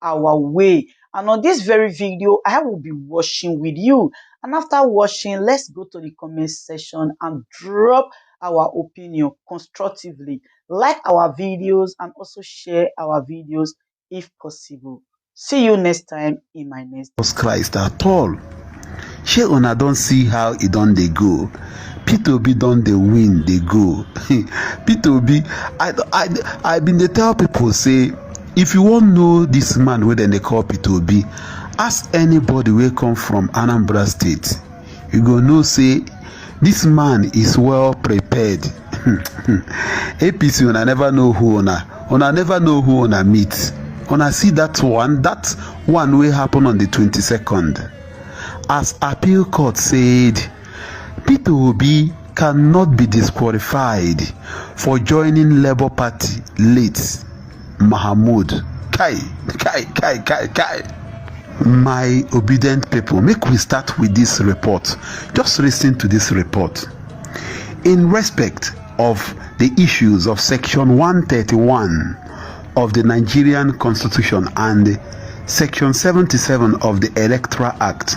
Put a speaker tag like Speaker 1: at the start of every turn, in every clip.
Speaker 1: our way and on this very video I will be washing with you and after washing let's go to the comment section and drop our opinion constructively like our videos and also share our videos if possible see you next time in my next Jesus Christ at all shey una don see how e don dey go peter obi don dey win dey go peter obi i i i bin dey tell pipo say If you wan know dis man wey dem dey call Peter Obi, ask anybody wey come from Anambra State, you go know say dis man is well prepared. APC una never know who una, una never know who una meet. Una see dat one, dat one wey happen on di twenty second as appeal court said Peter Obi cannot be disqualified for joining Labour Party late Mahmoud kai kai kai kai kai my obedient people make we start with this report just listen to this report in respect of the issues of section 131 of the Nigerian constitution and section 77 of the electoral act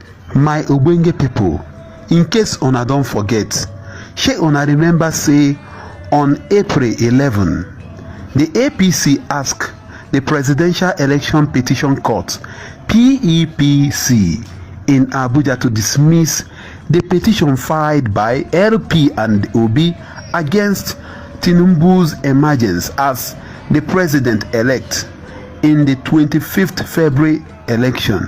Speaker 1: My ogbonge pipo, in case una don forget, shey una remember say on April eleven, di APC ask di Presidential Election Petition Court, PEPC, in Abuja to dismiss di petition filed by LP and Obi against Tinubu's emergence as di president-elect in di twenty fifth February election.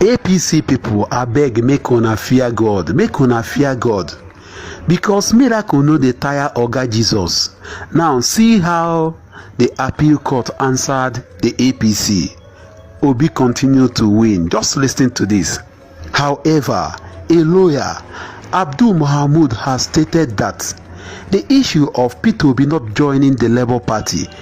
Speaker 1: apc pipo abeg make una fear god make una fear god because miracle no dey tire oga jesus now see how the appeal court answered the apc obi continue to win just listen to this however a lawyer abdul mohamud has stated that the issue of peter obi not joining the labour party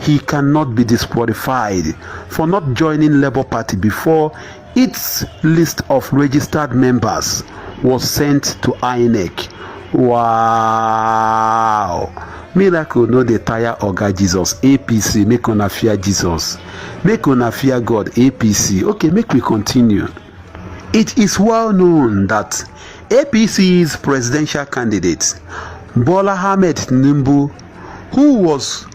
Speaker 1: He cannot be disqualified for not joining Labour Party before its list of registered members was sent to INEC. Wow! Miracle no dey tire Oga Jesus APC make una fear Jesus make una fear God APC okay make we continue. It is well known that APC's presidential candidate Bola Ahmed Tinubu who was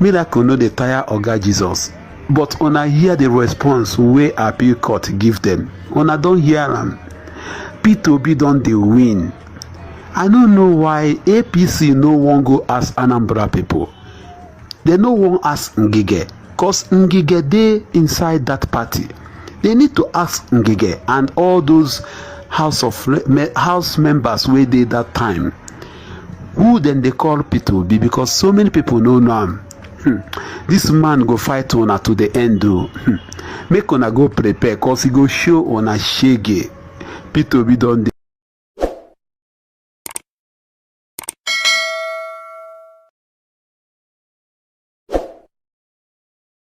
Speaker 1: miracle no dey tire oga jesus but una hear di response wey appeal court give dem una don hear am peter obi don dey win i no know why apc no wan go ask anambra pipo dem no wan ask ngige cos ngige dey inside dat party they need to ask ngige and all those house of house members wey dey dat time who dem dey call pito be because so many people no know am hmm. this man go fight una to the end o hmm. make una go prepare cause he go show una shege pito be don dey.